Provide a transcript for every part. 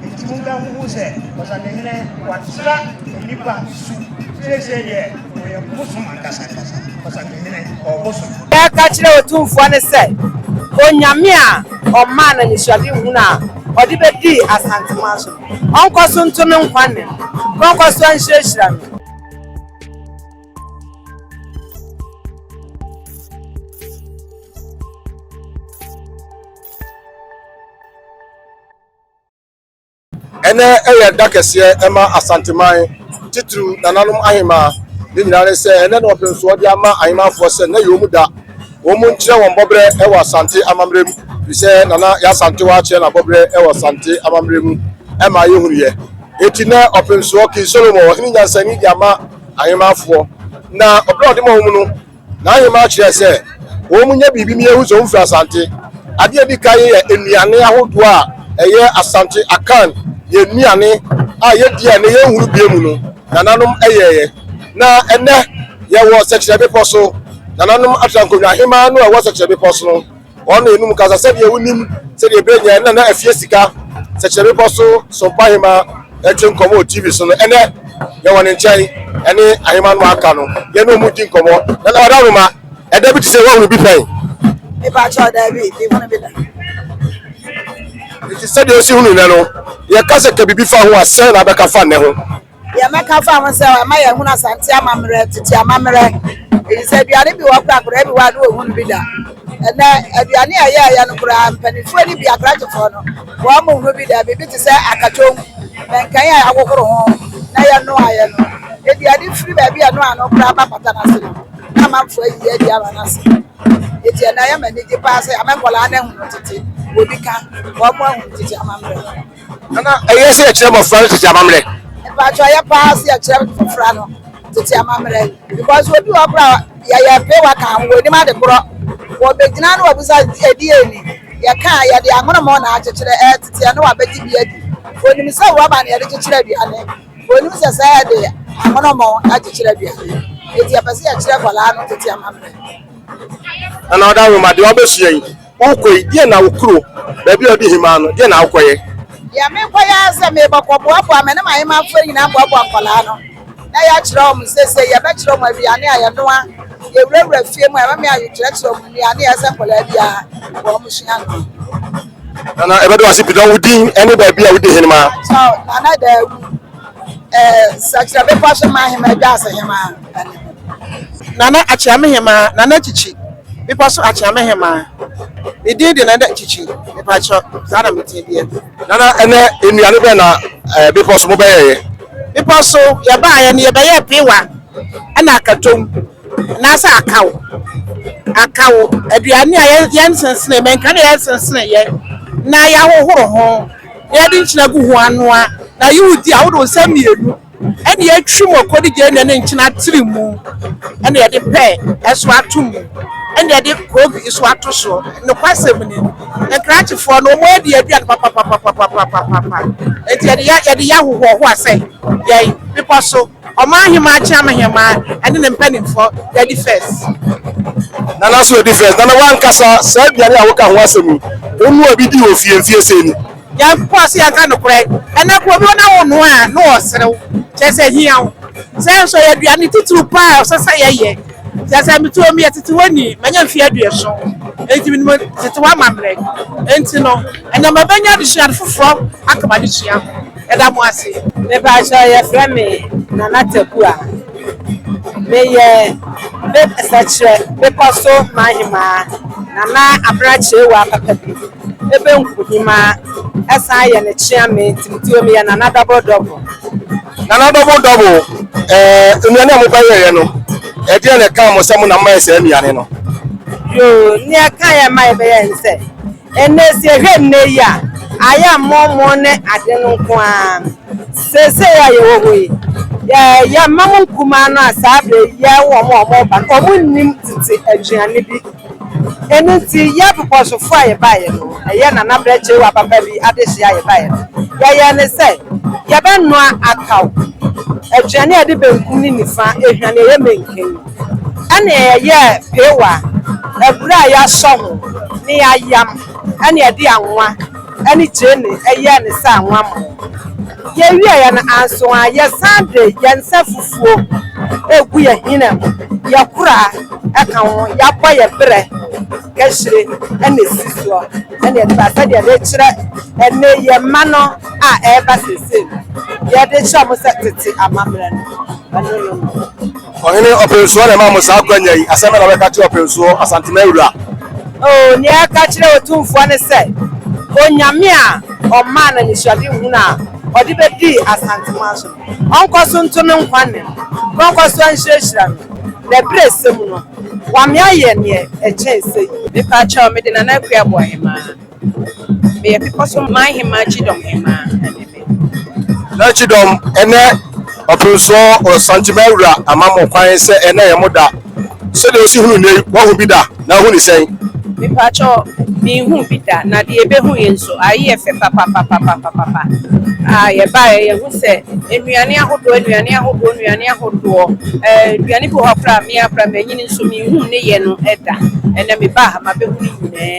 Enti monkɔhuhu sɛ ɔsahene watra nnipa su. Seesei deɛ, ɔyɛ bosom ankasa ankasa, ɔsahene, ɔbosom. Yɛka kyerɛ Otumfoɔ no sɛ, Onyame a ɔmaa no anisoadehunu a ɔde bɛdii Asanteman so no, ɔnkɔ so nto no nkwa nna mu, na ɔnkɔ so nhyirahyira no. Ɛnɛ yɛ da kɛseɛ ma Asanteman, titiriw nananom ahemaa. Ne nyinaa ne sɛ, ɛnɛ na wɔpem so wɔde ama ahemaafoɔ sɛ nnɛ yɛ wɔn da. Wɔn nkyerɛ wɔn bɔberɛ wɔ Asante amammerɛ mu, firi sɛ Nana Yaa Asantewaa akyerɛ n'abɔberɛ wɔ Asante amammerɛ mu ma yɛhunuiɛ. Enti nnɛ ɔpemsoɔ King Solomon, ɔhene nyansani de ama ahemaafoɔ, na ɔberɛ a ɔde ma wɔn no, N'aheman kyerɛ sɛ wɔnyɛ biribi na yɛahu sɛ wɔfiri Asante. Adeɛ a ɛdi kan yɛ nnuane ahodoɔ a ɛyɛ Asante Akan yɛn nnuane a yɛdi a ɛnnɛ yɛnhunu bio mu no, nananom yɛeɛ. Na ɛnnɛ yɛwɔ Sɛkyerɛ Bepɔ so. Nananom atra nkonnwa, Aheman no a ɛwɔ Sɛkyerɛ Bepɔ so no. Wɔn na enum kasa sɛdeɛ wonim sɛdeɛ bere nyɛ na na afie sika sɛkyerɛ bepɔ so sompa ahema ɛte nkɔmɔ wɔ TV so no ɛnɛ yɛwɔ ne nkyɛn ɛne ahema no aka no yɛne ɔmo di nkɔmɔ na na ɔda roma ɛda bi te sɛ wɔhunu bi pɛn Mepakyɛ ɔda bi mehunu bi da nti sɛdeɛ osi hunu nnɛ no yɛka sɛ ka biribi fa ho a sɛn na abɛka fa nnɛ ho. Deɛ mɛka fa ho sɛ ɛma yɛhunu Asante amammerɛ, tete amammerɛ. Ɛfiri sɛ aduane bi wɔ hɔ koraa akwadaa bi wɔ a na ɔnhunu bi da. Ɛnnɛ aduane a ɛyɛɛyɛ no koraa mpanimfoɔ no bi akrakyefoɔ no wɔnhunu bi da. Biribi te sɛ akatwom, mankan a yɛahohoro ho na yɛnoaeɛ no. Aduane firi baabi a ɛnoa no koraa ba pata no ase na amanfoɔ ayiyi adi ama no ase. Enti ɛnnɛ ɛyɛ me anigye paa sɛ yɛama nkwadaa no ahunu tete, wɔn bi ka, wɔahunu tete amammerɛ. Ana ɛyɛ sɛ yɛkyerɛ mmɔfra no tete amammerɛ? Mpatsɔ ɛyɛ paa sɛ yɛkyerɛ mmɔfra no tete amammerɛ because obi wɔ kora yɛyɛ mpe waka ho wɔnim ade korɔ wɔbɛgyina na wɔbusa ɛdi ɛni yɛka a yɛde amonomɔ na akyekyerɛ ɛteteɛ na wɔabɛgye bi adi wɔnim sɛ rɔba na yɛde kyekyerɛ aduane wɔnim sɛ sɛ yɛde amonomɔ akyekyerɛ aduane ɛti yɛpɛ sɛ yɛkyerɛ kɔlaa no tete amammerɛ. Ana ɔda nwoma deɛ ɔbɛsua yi. Worekɔ yi, deɛn na wo kuro, baabi a wɔde hemaa no, deɛn na wokɔyɛ? Deɛ merekɔyɛ ara sɛ merebɔ kɔboaboa, me ne m'ahemmafoɔ nyinaa boaboa nkwadaa no, na yɛakyerɛ wɔn seesei, yɛbɛkyerɛ wɔn aduane a yɛnoa, yɛwurawura fie mu a, ɛbɛma yɛakyerɛkyerɛ wɔn nnuane a ɛsɛ sɛ nkwadaa biara wɔsua no. Nana, yɛbɛda wo ase pii. Na wo din ne baabi a wodi hemaa? Kyɛw, Nana Daawu, ɛɛ, Sakyera Bepɔ so Mma Hemaa, Dwaase Hemaa. Nana Akyeamehemaa, Nana Kyikyi, Bepɔ so Akyeamehemaa. Me din de Nana Kyikyi, mepakyɛ, saa na me din deɛ. Nana, ɛnɛ nnuane bɛn na ɛɛ Bepɔ so mo bɛyɛeɛ? Bepɔ so, yɛbaeɛ no yɛbɛyɛɛ pewa ɛna akatom, anaasɛ akaw, akaw, aduane a yɛnsensene, mɛnka deɛ yɛnsenseneeɛ, na yɛahohoro ho, na yɛde nkyene agu ho anoa, na yɛ wodi a wode wo nsa mmienu. Ɛne yɛatwi mu akɔdi gya ɛne yɛde nkyene atiri mu ɛne yɛde pɛɛ ɛso ato mu ɛne yɛde koogwi nso ato so nokwasɛm ni nkrakyefoɔ no wɔn adi aduane papapapapapapapa enti yɛde yɛ yɛde yɛ ahohoɔhoa sɛ yɛn bepɔ so ɔman ahemaa kyeam ahemaa ɛne ne mpanimfoɔ yɛadi fɛs. Nana so edi first. Nana wankasa saa aduane a woka ho asɛm yi, wo noa bi di wɔ fie mfie sei ni? Nyankopɔn a sɛ yɛka nokorɛ na kuro bi na wo noa a na ɔsere wo kyerɛ sɛ hia wo sɛ nso ɛyɛ aduane titiriw paa a ɔsɛ sɛ yɛyɛ kyerɛ sɛ me tuo meyɛ tetewani manya mfeɛ aduoson enti menim tetewa amammerɛ enti no ɛnɛ mabɛnya adesua ade foforɔ aka m'adesua ho yɛda mo ase. Mepakyɛw yɛfrɛ me Nana Takua meyɛ me sɛkyerɛ bepɔ so mahemaa Nana Abena Kyerewaa papa bi. Ebe Nkuhima san yɛ ne Kyeame Timoteo meyɛ Nana Double Double. Nana Double Double, eh, nnuane a mobɛyɛeɛ no, ɛdeɛn na ɛkaa mo sɛ mo na moyɛ saa nnuane no? Yoo, nea ɛkaa yɛn ma yɛbɛyɛɛ ne sɛ, ɛnnɛ sɛ yɛhwɛ nnɛ yi a, ayɛ a mɔmɔ ne ade no nko ara. Seesei a yɛwɔ hɔ yi, yɛ, yɛn mma mo nkumaa no a saa berɛ yi yɛn wɔn a wɔreba no, wɔnnim tete aduane bi. Ɛno nti yɛ bobɔsofo a yɛbaeɛ no, ɛyɛ Nana Brɛ Kyerewa papa bi adehyeɛ a yɛbaeɛ no, yɛyɛɛ ne sɛ yɛbɛnoa akaw, aduane a yɛde benkum ne nifa ahwane a ɛyɛ menken, ɛnna yɛyɛɛ peewa, abura a yɛasɔ ho, ne ayam, ɛnna yɛde anwa. ne training yɛɛ no sɛ anwanma. Yɛwieeɛ no anso a, yɛsan de yɛn nsa fufuo regu yɛn hina mu, yɛn koraa ka ho, yɛabɔ yɛn berɛ kahyire na ɛsi soɔ na yɛde ba sɛdeɛ yɛde rekyerɛ ɛnnɛ yi yɛn mma no a ɛreba seesei no, yɛde kyerɛ wɔn sɛ tete amammerɛ no, ɛno no no. Ɔhene Ɔpɛnsuo na ɛmaa mo saa akwanya yi. Asɛm bɛn na wobɛka akyerɛ Ɔpɛnsuo, Asantema awura? Oh, nea ɛka akyerɛ Otumfoɔ ne sɛ, Onyame a ɔmaa no anisoadehunu a ɔde bɛdii Asantema so no, ɔnkɔ so nto no nkwa nne, na ɔnkɔ so nhyirahyira no, na abirɛsɛ mu no, wame ayɛ nea ɛkyɛn sɛyi. Mepa kyɛw, mede Nana Akua Abu Ahemaa. Meyɛ bepɔ so man hemmaa kyidɔm hemmaa na ne me. Na kyidɔm ɛnɛ ɔpemsoɔ ɔsantima awura ama mo kwan sɛ ɛnɛ yɛ mo da sɛdeɛ ɔsi hunu nnɛ yi wahu bi da na ahu ne sɛn. Mepakyɛw menhuu bi da na deɛ yɛbɛhu yi nso ae yɛ fɛ papapapapapapa ah yɛbaeɛ yɛhu sɛ nnuane ahodoɔ nnuane ahodoɔ nnuane ahodoɔ eh nnuane bi wɔ hɔ koraa a me ara koraa manyini nso menhuu ne yɛ no da ɛnɛ mebaa ha mabɛhu ne nyinaa.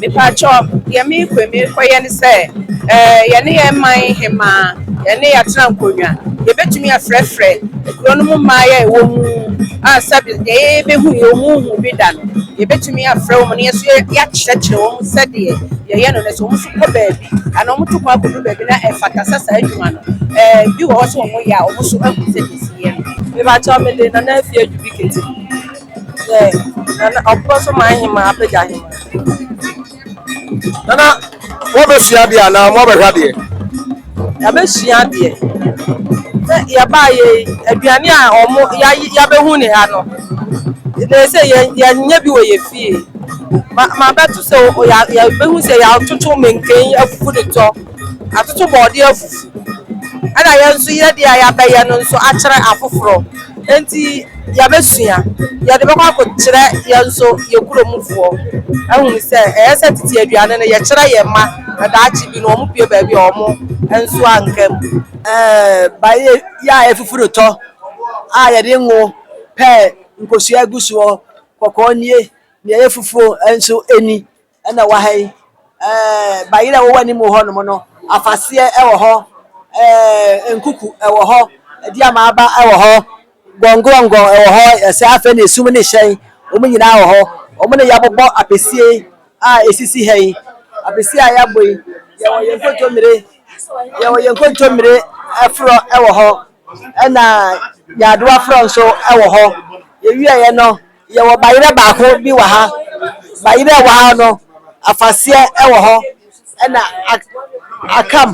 Mepakyɛw, deɛ merekɔ merekɔyɛ ne sɛ ɛɛ yɛne yɛn man hemaa yɛne yɛatena nkonnwa yɛbɛtumi afrɛfrɛ kuro no mu mmaeɛ a ɛwɔ mu a sɛbi deɛ yɛbɛhu yɛ ɔmu nhu bi da no yɛbɛtumi afrɛ wɔn na yɛn nso yɛakyerɛkyerɛ wɔn sɛdeɛ yɛyɛ no no sɛ wɔn nso kɔ baabi anaa wɔn to kwan kɔduru baabi na ɛfata sɛ saa adwuma no ɛɛ bi wɔ hɔ sɛ wɔyɛ a wɔn nso ahu sɛdeɛ ɛsi yɛ no. Mepakyɛw, mede Nana Afie Adu bi kete. Yɛ nana ɔpɔ so maa ahema apagya ahema. Nana wɔbɛsua adeɛ anaa wɔbɛhwɛ adeɛ? Yɛbɛsua adeɛ. Sɛ yɛbaa yɛ aduane a wɔn yɛabɛhu ne ha no. Na sɛ yɛnyɛ bi wɔ yɛ fie. Ma mabɛto sɛ yɛbɛhu sɛ yɛatoto menken afufu de tɔ. atoto bɔɔde afufu, ɛna yɛn nso yɛ deɛ a yɛabɛyɛ no nso akyerɛ afoforɔ. Nti yɛabɛsua, yɛde bɛkɔ akɔkyerɛ yɛn nso yɛn kuromfoɔ ahunu sɛ ɛyɛ sɛ tete aduane no yɛkyerɛ yɛn mma na daakye bi no wɔpue baabi a wɔn nso anka mu. Bayɛ yi a ɛfufu no tɔ a yɛde ngo pɛ nkosua gu soɔ, kɔkɔɔ nie, deɛ ɛyɛ fufuo nso ni. Ɛna wɔ ha yi, ɛɛ, bayerɛ a wɔwɔ anim hɔ nom no, afaseɛ ɛwɔ hɔ, ɛɛ, nkuku ɛwɔ hɔ, ɛdi amaaba ɛwɔ hɔ, gɔngɔngɔ ɛwɔ hɔ, ɛsɛ afei na esum ne hyɛn, wɔn nyinaa wɔ hɔ. Wɔn na yɛabobɔ apɛsie a ɛsisi ha yi. Apɛsie a yɛabɔ yi, yɛwɔ yɛn nkontommire, yɛwɔ yɛn nkontommire forɔ ɛwɔ hɔ, ɛna nyaadoa forɔ nso ɛwɔ hɔ. Yɛwieɛ no, Yɛwɔ bayerɛ baako bi wɔ ha. Bayerɛ a ɛwɔ ha no, afaseɛ wɔ hɔ. Ɛna akam,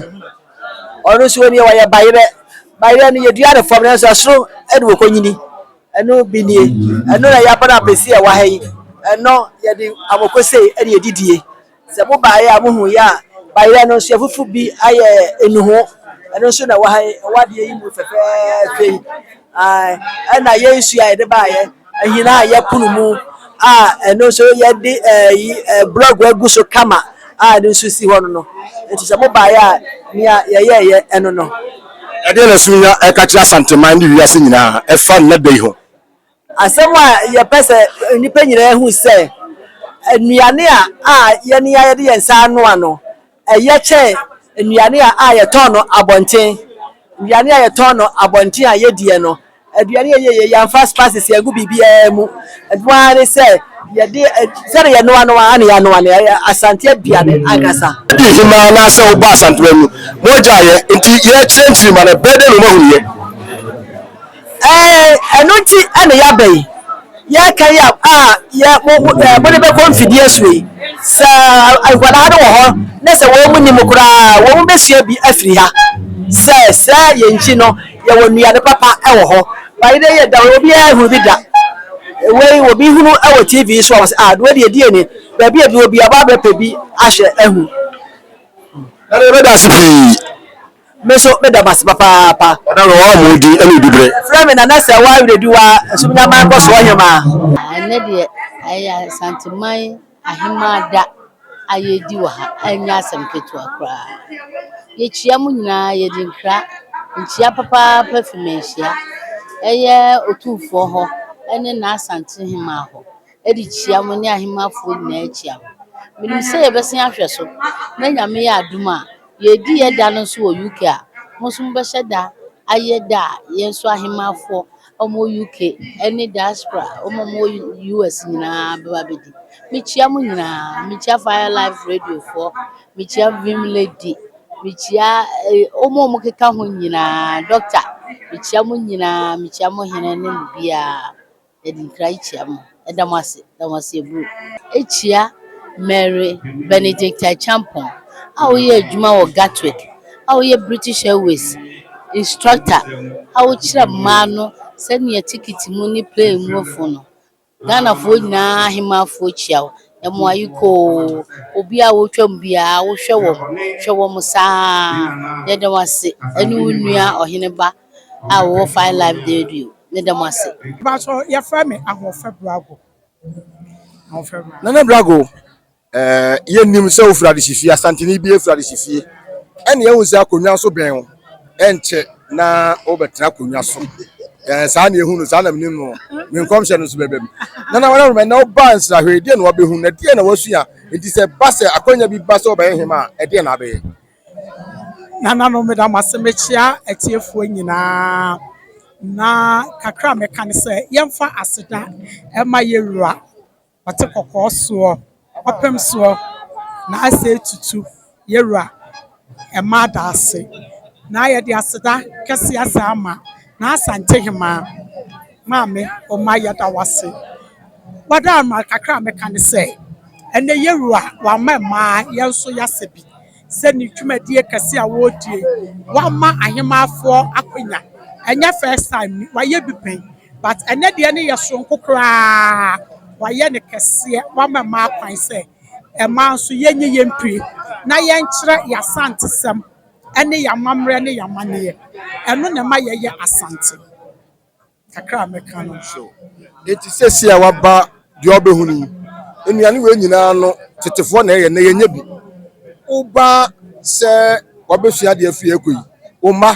ɔno nso wɔ nie, ɔyɛ bayerɛ. Bayerɛ no yɛdua no fam nanso ɛsoro na wɔkɔnyini. Ɛno bi nie. Ɛno na yɛabɔ no apɛsi a ɛwɔ ha yi. Ɛno yɛde amokosei na yɛdidie. Sɛ mo baeɛ a mohu yɛ a, bayerɛ no nso yɛafufu bi ayɛ nnuho. Ɛno nso na ɛwɔ ha yi, ɛwɔ adeɛ yi mu fɛfɛɛfɛ yi. Ae, ɛna yɛ nsuo a yɛde baeɛ, ahina a yɛpono mu a ɛno nso yɛde ɛyi eh, blɔg agu so kama a ɛno nso si hɔ no no. Nti sɛ mo baeɛ a, nea yɛyɛeɛ ɛno no. Ɛdeɛn na Sunya reka kyerɛ Asanteman ne wiase nyinaa ɛfa nnɛ da yi ho? Asɛm a yɛpɛ sɛ nnipa nyinaa hu sɛ nnuane a a yɛne a yɛde yɛn nsa anoa no, ɛyɛ kyɛn nnuane a a yɛtɔn no abɔnten. Nnuane a yɛtɔn no abɔnten a yɛdiɛ no, aduane a yɛyɛ yɛmfa spices yɛngu biribiara mu. Ɛno ara ne sɛ yɛde sɛdeɛ yɛnoa no ara na yɛanoa no, ɛyɛ Asante aduane ankasa. Wodi hemaa anaasɛ wobɔ Asantewaa mu? Mogya yɛ nti yɛkyerɛ nkyiri ma no, bɛdɛn na wɔahunu yɛ? Ɛɛ, ɛno nti na yɛaba yi. Yɛreka yi a a yɛ mo mo ɛɛ mode bɛkɔ mfidie so yi, sɛ nkwadaa no wɔ hɔ na sɛ wɔn nim koraa a, wɔn bɛsua bi afiri ha. Sɛ sɛ yɛn nkyi no, yɛwɔ nnuane papa wɔ hɔ. But ɛnnɛ yi ɛda hɔ, obiara nhunu bi da. Wei obi hunu wɔ TV so a, wɔse ah wei deɛ ɛdeɛn ni? Baabi a ɛduru biara, wɔaba abɛpɛ bi ahwɛ ahu. Ɛnna yɛbɛda ase pii. Me nso meda mo ase papaapa. Ɔda no ɔwɔ mo din ne odubere. Frɛ me Nana Sɛwa Awerediwa Nsumnyaman Nkɔsoɔ Hemaa. Ɛnnɛ deɛ ɛyɛ Asanteman Ahemaa da a yɛredi wɔ ha, ɛnyɛ asɛm ketewa koraa. Yɛkyia mo nyinaa, yɛde nkra nkyia papaapa fi Manhyia, ɛyɛ Otumfoɔ hɔ ne n'Asante Hemaa hɔ. de kyia mo ne ahemmafoɔ nyinaa kyia mo. Menim sɛ yɛbɛsan ahwɛ so na Nyame yɛ adom a, yɛredi yɛ da no nso wɔ UK a, mo nso mobɛhyɛ da ayɛ da a yɛn nso ahemmafoɔ a wɔwɔ UK ne diaspora wɔn a wɔwɔ US nyinaa bɛba abɛdi. Mekyia mo nyinaa, mekyia Fire Life Radiofoɔ, mekyia Vim Lady, mekyia eh, wɔn a wɔkeka ho nyinaa, Doctor, mekyia mo nyinaa, mekyia mo hene ne mo biara. Yɛde nkra yi kyia mo. Yɛda mo ase. Yɛda mo ase bro. Ekyia Mary Benedicta Acheampong a woyɛ adwuma wɔ Gatwick a woyɛ British Airways instructor a wokyerɛ mmaa no sɛnea tikiti mu ne plane mu fo no. Ghanafoɔ nyinaa ahemaafoɔ kyia wo. Ɛmo ayiko oo. Obi a wotwam biara wohwɛ wɔn. Hwɛ wɔn saa. Yɛda wo ase ɛne wo nua ɔheneba a wɔwɔ Fine Life Dairy o, me da mo ase. Mpatsɔ yɛfrɛ me Ahoɔfɛ Brago. Nana Brago, yɛ nim sɛ wo firi Adehyefie, Asanteni bia firi Adehyefie, ɛne yɛ hu sɛ akonwa nso bɛn wo, ɛnkyɛ na wo bɛ tena akonwa so, saa na yɛ hu no, saa na me nim no, me nkɔmhyɛ no nso bɛ bɛm. Nana Wara Rema, ɛnɛ wo baa nsrahwɛ, ɛdeɛn na wa bɛ hu, na ɛdeɛn na wa sua, nti sɛ ɛba sɛ akwanya bi ba sɛ wo bɛ yɛ hema a, ɛdeɛn na abɛ yɛ? Nananom, meda mo ase. Mekyea atiefoɔ nyinaa, na kakra a mɛka ne sɛ, yɛmfa aseda mma yɛn Wura, ɔte kɔkɔɔ soɔ, ɔpem soɔ, na asei tutu, yɛn Wura, mma adaase. Na yɛde aseda kɛseɛ asan ama. N'Asantehemaa Maame Omah yɛda wo ase. Wada ama kakra a mɛka ne sɛ ɛnɛ yɛwura a wama mmaa yɛn nso yɛasɛ bi sɛ ne dwumadie kɛseɛ a wɔredie wama ahemaafoɔ akwanya ɛnyɛ first time wayɛ bi pɛn but ɛnɛ deɛ ne yɛ soronko koraa wayɛ no kɛseɛ wama mmaa kwan sɛ mmaa nso yɛnyɛ yɛmpire na yɛnkyerɛ yɛn asantesɛm. ne yɛn amammerɛ ne yɛn amanneɛ. Ɛno na ɛma yɛyɛ Asante. Kakra a mɛka no. So enti seesei a woaba deɛ wobɛhu no yi, nnuane wei nyinaa no tetefoɔ na ɛyɛ, na yɛnyɛ bi. Woba sɛ wabɛsua adeɛ afiri ɛkɔ yi, wo mma,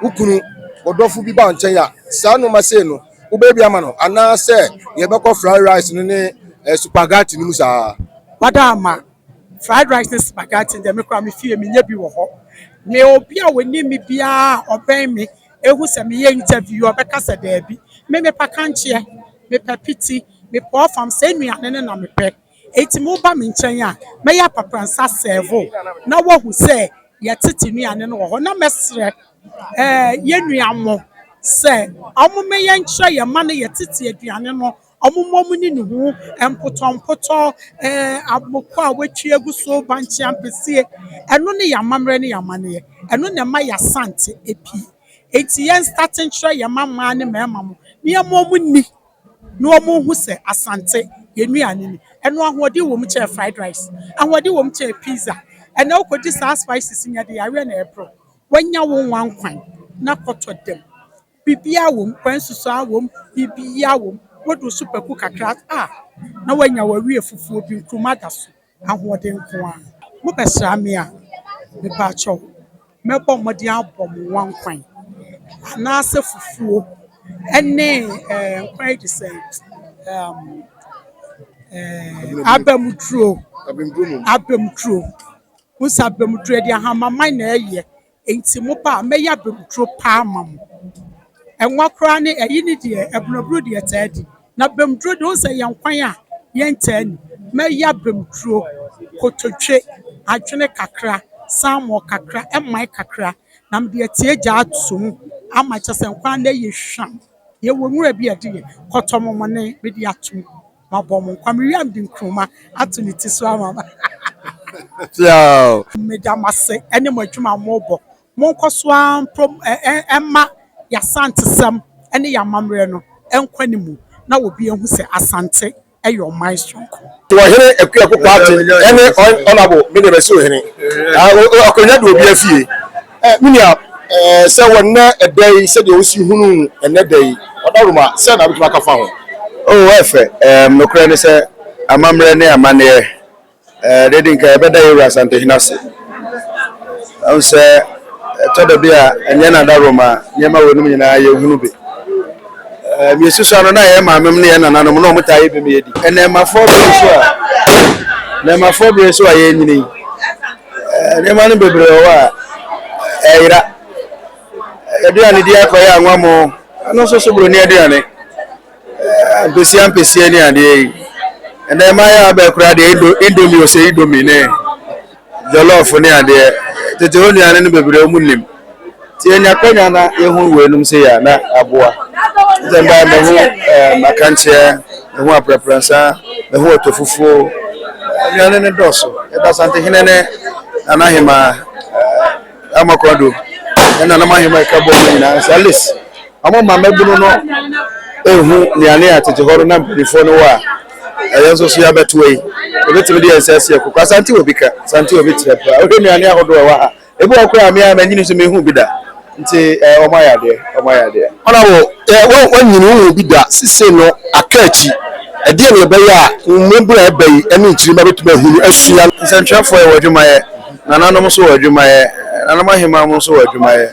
wo kunu, wɔdɔfo bi ba wo nkyɛn a, saa nneɛma sei no wobɛyɛ bi ama no anaasɛ yɛbɛkɔ fried rice no ne eh, supagati no mu saa. Wada ama Fried rice ne spaghetti deɛ me koraa me fie menya bi wɔ hɔ. Me obi a ɔnim me biara a ɔbɛn me ɛhu sɛ meyɛ interview yi ɔbɛka sɛ daabi. Me mepɛ kankyeɛ, mepɛ piti, mepɛ ɔfam, saa nnuane no na mepɛ. Enti mo ba me nkyɛn a mɛyɛ apapransa serve wo na woahu sɛ yɛtete nnuane no wɔ hɔ. Na mɛsrɛ eh yɛn nua mo sɛ wɔn mmɛyɛ nkyerɛ yɛn mma no yɛtete aduane no. Wɔmmɔ mo ne ne ho mpotɔmpotɔ, aboko a wɔatwi agu so, bankye ampesie. Ɛno ne yɛn amammerɛ ne yɛn amanneɛ. Ɛno na ɛma yɛn Asante apue. Enti yɛnstate nkyerɛ yɛn mma mmaa ne mmarima no na yɛmma wɔn nni na wɔnhu sɛ Asante, yɛn nnuane ni. Ɛno ahoɔden wɔ mu kyɛn fried rice. Ahoɔden wɔ mu kyɛn pizza. Ɛnnɛ wokɔdi saa spices no a, ɛde yareɛ na ɛrebrɛ wo. Wanya wo nwa nkwan na kɔtɔ dam. Biribiara wom, kwa nsusuaa wom, biribiara wom. Wode wo sopaku kakra a, na woanya w'awie fufuo bi, nkruma da so, ahoɔden nko ara. Mobɛsra me a, mepakyɛw, mɛbɔ mmɔden abɔ mo wankwan. Anaasɛ fufuo ne nkwan yi te sɛ abamuduro, abamuduro. Wohu sɛ abamuduro, yɛde ahamaman na ɛyɛ. Enti mo ba a, mɛyɛ abamduro pa ama mo. Ɛnwa koraa ne ɛyi ne deɛ abunaburo di ɛtaa di. Na bamduro deɛ, wohu sɛ ɛyɛ nkwan a yɛntaa nni. Mɛyɛ abamduro, kotodwe, adwene kakra, salmon kakra, ɛman kakra, na mede atie agya ato mu ama, kyerɛ sɛ nkwan no yɛ hwam. Yɛwɔ nwura bi a ɛde yɛ kɔtɔmɔmɔne, mede ato mu. Mabɔ mo nkwa. Mewie a mede nkruma ato ne ti so ama no. Piaww! Meda mo ase ne mo adwuma a mobɔ. Monkɔ so ara mprom mma yɛn Asantesɛm ne yɛn amammerɛ no nkɔ anim na obi ahu sɛ Asante yɛ ɔman soronko. Ɔhene Akua Poku Aten ne Hon Honourable Miriam Asuo Hene, Akonwa Duobiafie. Me nua, sɛ wɔ nnɛ da yi sɛdeɛ wosi hunu nnɛ da yi ɔdawuruma a, sɛn na wobɛtumi aka fa ho? Oh, ɛfɛ. Nokorɛ ne sɛ, amammerɛ ne amanneɛ, deɛ ɛdi nkan yɛbɛda yɛn wura Asantehene ase. Wahu sɛ, ɛtɔ da bi a ɛnyɛ n'adawuruma a nneɛma weinom nyinaa yɛnhunu bi. Mesusua no, na yɛn maamem ne yɛn nananom na wɔtaa yɛ bi ma yɛdi. Nnɛɛmafoɔ bere nso a, nnɛɛmafoɔ bere nso a yɛrenyini yi, Nneɛma no bebree wɔ hɔ a ɛyera. Aduane di akɔ yɛ anwammo, ɛno nso so buroni aduane. Ampesie ampesie ne adeɛ yi. Ɛnna mmaayewa abɛɛ koraa deɛ indo indomie ose indomie ne jollof ne adeɛ. Tete hɔ nnuane no bebree wɔn nim. Sɛ yɛnya akwanya na yehu weinom sei a, na aboa. Sɛ mbaa mehu ɛɛm akankyea, mehu aprapransa, mehu ɔtɔfufuo, nnuane no dɔɔso. Yɛda Asantehene ne Nanahemaa Amoakwa Addo ne Nananom Ahemaa a ɛka bɔ mu nyinaa sɛ at least wɔn ma mmabunu no ehu nnuane a tete hɔ no na mpanimfoɔ no wɔ a yɛn nso so yɛabɛtoa yi. Yɛbɛtumi de yɛn nsa asi ɛkoko. Asante wɔ bi ka, Asante wɔ bi kyerɛ paa. Wohwɛ nnuane ahodoɔ a ɛwɔ ha a, Ebi wɔ hɔ koraa a me ara mannyin nso manhu bi da, nti wɔayɛ adeɛ, wɔayɛ adeɛ. Ana wo deɛ woannyin wonhu bi da? Seisei no aka akyi, ɛdeɛn na ɛbɛyɛ a wo mmabunu a ɛba yi ne nkyirimma bɛtumi ahunu, asua? Nsɛntwerɛfoɔ wɔ adwuma yɛ, nananom nso wɔ adwuma yɛ, nananom ahemmaa mu nso wɔ adwuma yɛ.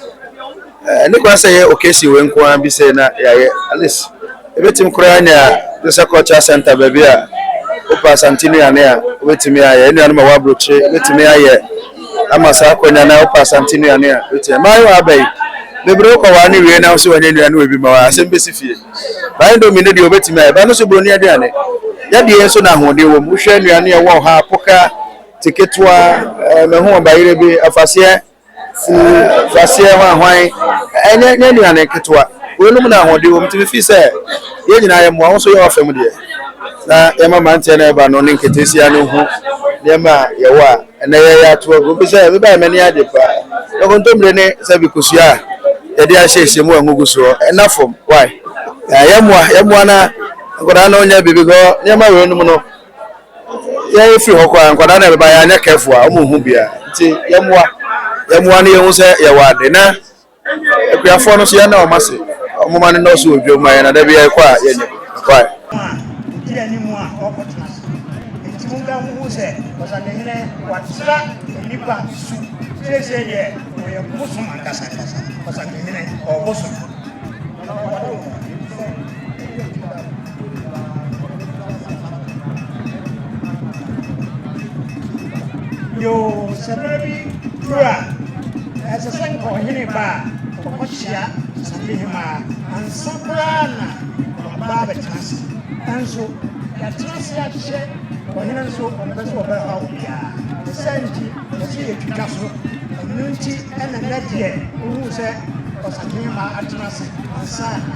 Ɛnde koraa sɛ ɛyɛ occasion wei nko ara bi sɛ na yɛayɛ at least ebetumi koraa anya Josia Cultural Center baabi a wopɛ Asante nnuane a wobetumi ayɛ, nnuane ma w'aburokyire wobetumi ayɛ ama saa akonnwa na wopɛ Asante nnuane a wobetumi. Mmaayewa aba yi bebree wokɔware no wie na wo nso wanya nnuane wɔ bi ma wo asɛm besi fie. Ba indomie no deɛ wobetumi ayɛ, ba ɛno nso buroni aduane. Yadeɛ nso na ahoɔden wɔ mu, wohwɛ nnuane a ɛwɔ ha, apoka, teketewa, ɛɛ mehu ɔbayerɛ bi, afaseɛ. Fufu, kwaseɛ, hwanhwan, ɛnyɛ nyɛ nnuane nketewa. Wei nom na ahoɔden wɔ mu. Nti me feel sɛ yɛn nyinaa yɛ mmoa. Wo nso yɛ w'afa mu deɛ na yɛn ma mmeranteɛ no ɛba no ne nketeesia no nhu nneɛma a yɛwɔ a ɛnɛ yɛyɛ ato agu. Bi sɛ me baɛ m'ani agye paa. Yɛ kontomire ne sɛbi kosua a yɛde ahyɛ hyɛ mu a ngo gu soɔ. Ɛna fam why? Yɛ mmoa yɛ mmoa na nkwadaa no nyɛ bi because nneɛma wei nom no. yɛfiri hɔ koraa nkwadaa na ɛbɛba yɛanyɛ careful a wɔn nhu bia nti yɛmmoa yɛmmoa no yɛhu sɛ yɛwɔ ade na akuafoɔ no so yɛn na wɔn ase wɔn ma no nɔɔso wɔ dwom ma yɛn na da bi yɛkɔ a yɛnyɛ kwae. Edi anim a ɔkɔtena so nti monkamfo ho sɛ ɔsadehene watra nnipa su seesei deɛ ɔyɛ bosom ankasa ankasa ɔsadehene ɔbosom Yoo, sɛ bere bi du a, ɛsɛ sɛ nka ɔhene ba a, ɔkɔkyea Samehemaa ansa koraa na waba abɛtena ase. Nanso, yɛatena ase akyɛ ɔhene nso ɔmpɛ sɛ ɔbɛhaw obiara. Ɛsɛ nti, ɛsɛ yɛtwitwa so. Ɛno nti na nna deɛ wohuu sɛ Ɔsamehemaa atena ase ansa na